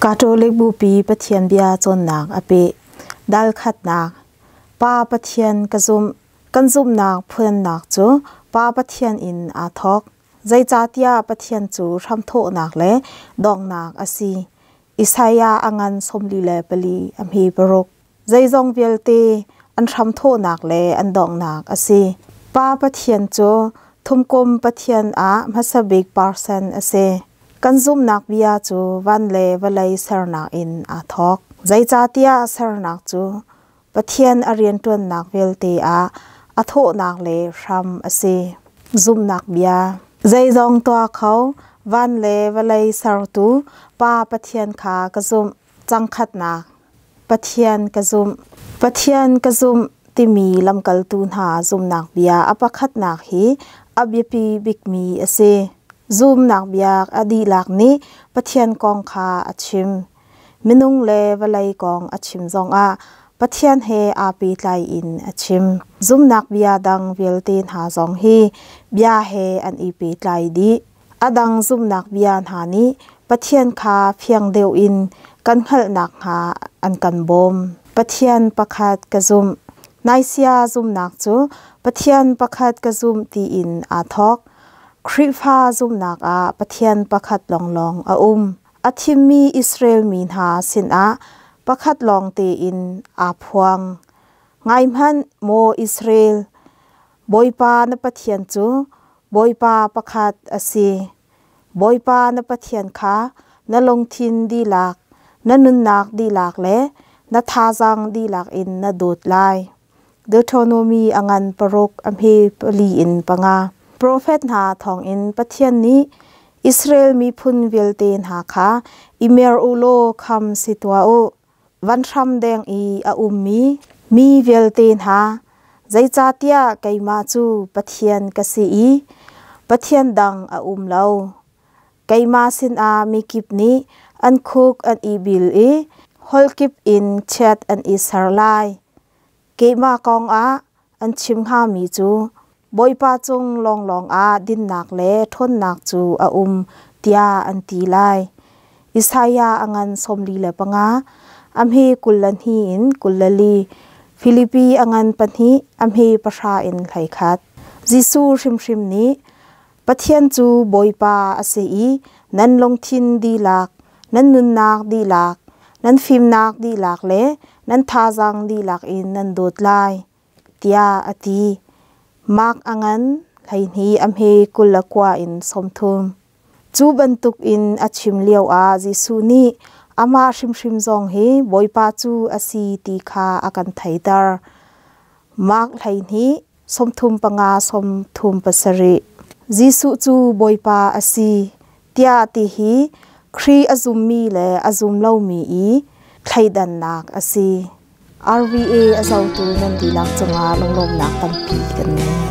Catholic Bupi Pathian bia cawnnak a peh. Dalkhatnak Pa Pathian ka zumh. Kan zumhnak phuannak cu Pa Pathian in aa thawk. Zeicahtiah Pathian cu hramthawhnak le donghnak a si. Isaiah a ngan sawmli le pali a hme paruk. zeizong vialte an hramthawhnak le an donghnak a si. Pa Pathian cu Thumkum Pathian ah hmasa bik person a si. Kan zumhnak bia cu van le vawlei sernak in aa thawk. Zeicahtiah sernak cu Pathian a rianṭuannak vialte ah a thawhnak le hram a si. Zumhnak bia Zeizong tuah kho, van le vawlei sertu Pa Pathian kha ka zumh. Cangkhatnak Pathian ka zumh Pathian ka zumh timi lamkaltu hna zumnak bia a pakhatnak hi a biapi bikmi a si. Zumnak bia a dihlak nih Pathian kong kha a chim. Minung le vawlei kong a chim zongah Pathian he aa pehtlai in a chim. Zumnak bia dang vialte hna zong hi bia he an i pehtlai dih. A dang zumhnak bia hna nih Pathian kha fiang deuh in kan hngalh nakhnga an kan bawm. Pathian pakhat ka zumh. Naisia zumhnak cu Pathian pakhat ka zumh tiin aa thawk. Khrihfa zumhnak ah Pathian pakhat lawnglawng a um. A thimmi Israel mi hna sinah pakhat lawng tein aa phuang. Ngaihmanh, maw Israel, Bawipa na Pathian cu Bawipa pakhat a si. Bawipa na Pathian kha na lungthin dihlak, na nunnak dihlak le na thazaang dihlak in na dawt lai. Deuteronomy a ngan paruk a hme pali in panga. Profet hna thawngin Pathian nih Israel miphun vialte hna kha i mer u law kham si tuah u. van hram deng i a ummi mi vialte hna, zeicahtiah keimah cu Pathian ka si i pathian dang a um lo. Keimah sinah mikip nih an khuk an i bil i holh kip in chiat an i ser lai. Keimah kongah An chim hngami cu Bawipa cung lawnglawng ah dinnak le ṭhawnnak cu a um tiah an ti lai. Isaiah a ngan sawmli le panga, a hme kul le hnih in kul le li, Filipi a ngan pahnih, a hme pahra in hlei khat. Jesuh hrimhrim nih Pathian cu Bawipa a si i nan lungthin dihlak, nan nunnak dihlak, nan fimnak dihlak le nan thazaang dihlak in nan dawt lai, tiah a ti. Mark a ngan hleihnih a hme kul le kua in sawmthum. Cu bantuk in a chim lio ah Jesuh nih amah hrimhrim zong hi Bawipa cu a si ti kha a kan theiter. Mark hleihnih sawmthum panga sawmthum pasarih Jesuh cu Bawipa a si tiah ti hi Khrih a zummi le a zum lomi i thleidannak a si. RVA a zotu nan dihlak cungah lunglawmnak tampi kan ngei.